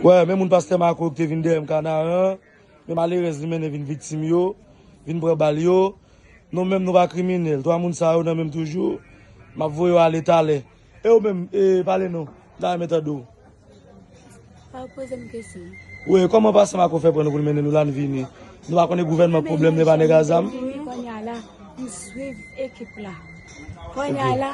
Wè, menm moun pastè Marco ki te vin dèyè m Kanaran, men malerèz li mennen vin viktim yo, vin pran bal yo. Nou menm nou pa kriminèl. 3 moun sa yo nan men m toujou. M ap voye yo ale talè. E ou menm, e pale non. M ta renmen tande w. Sa ou poze m kesyon. Wè, kòman pastè Marco fè pran nou pou l mennen nou la n vini? Nou pa konnen gouvènman pwoblèm li e pa nèg a zam? Kounye a la, m swiv ekip la. Kounye a la.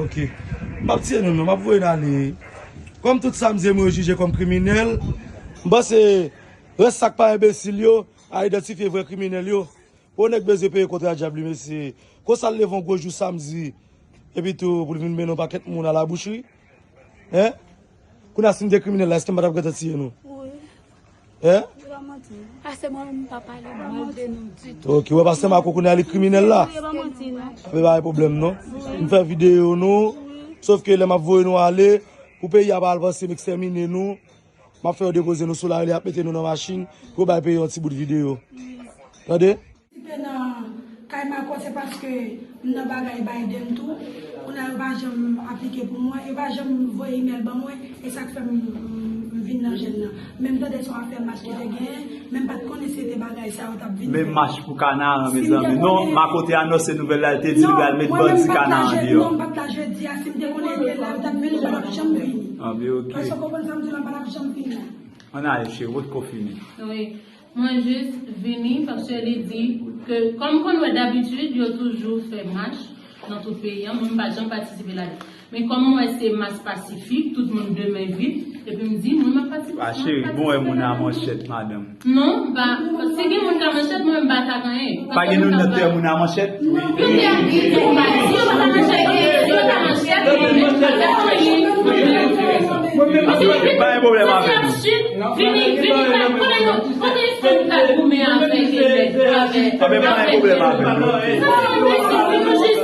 Ok. M pap tiye nou non, m ap voye n ale. Kòm tout Samdyen mwen yo jije kòm kriminèl, m panse rès sa k pa enbesil yo a idantifye vrè kriminèl yo. Gwo nèg bezwen peye kontra djab li mesye. Konsa l leve yon gwo jou Samdi epitou pou l vin mennen yon pakèt moun alaboucherie. Hein? Kounye a si m te kriminèl la, èske m pa t ap gentan tiye nou? Wi. Pastè mwen menm m pa pale mal de nou ditou. Ok, wè pastè Mako kounye a li kriminèl la? Wi, pa manti non. Sa pa gen pwoblèm non. M fè videyo nou, sof ke lè m ap voye nou ale, pou peyi a pa al panse m ekstèmine nou, m ap fè yo depoze nou sou lari, y ap mete nou nan machin pou yo bay peyi yon ti bout videyo. Tande? Patisipe nan kay Marco se paske m nan bagay Biden tou, kounye a yo pa janm aplike pou mwen, yo pa janm voye email ban mwen, e sak fè m vin nan jèn nan. Men m tande se yon afè mach ki te genyen, men m pat konnen si se te bagay sa yo tap vin fè. Men mach pou Kanaran mezanmi. Non, Marco te anonse nouvèl la, li te di li pral met bandi Kanaran deyò. Non, mwen menm m pat la jedi a, si m te konnen li te la, yo tap vini, yo pap janm vini. Èske w konprann sa m di w la, m pa tap janm vini la. Ann ale cheri, wotko fini. Mwen jis vini paske li di ke kòm konn wè dabitid yo toujou fè mach nan tout peyi an, mwen m pa janm patisipe ladan. Men kòm m wè se mas pasifik, tout moun de men vip, epi m di mwen m ap patisipe ladan. Ma cheri, bon wè moun a manchèt madanm. Non, m pa, si gen moun k a manchèt mwen m pa tak anyen. Pa gen moun nan tè moun a manchèt? Pa gen pwoblèm avè nou.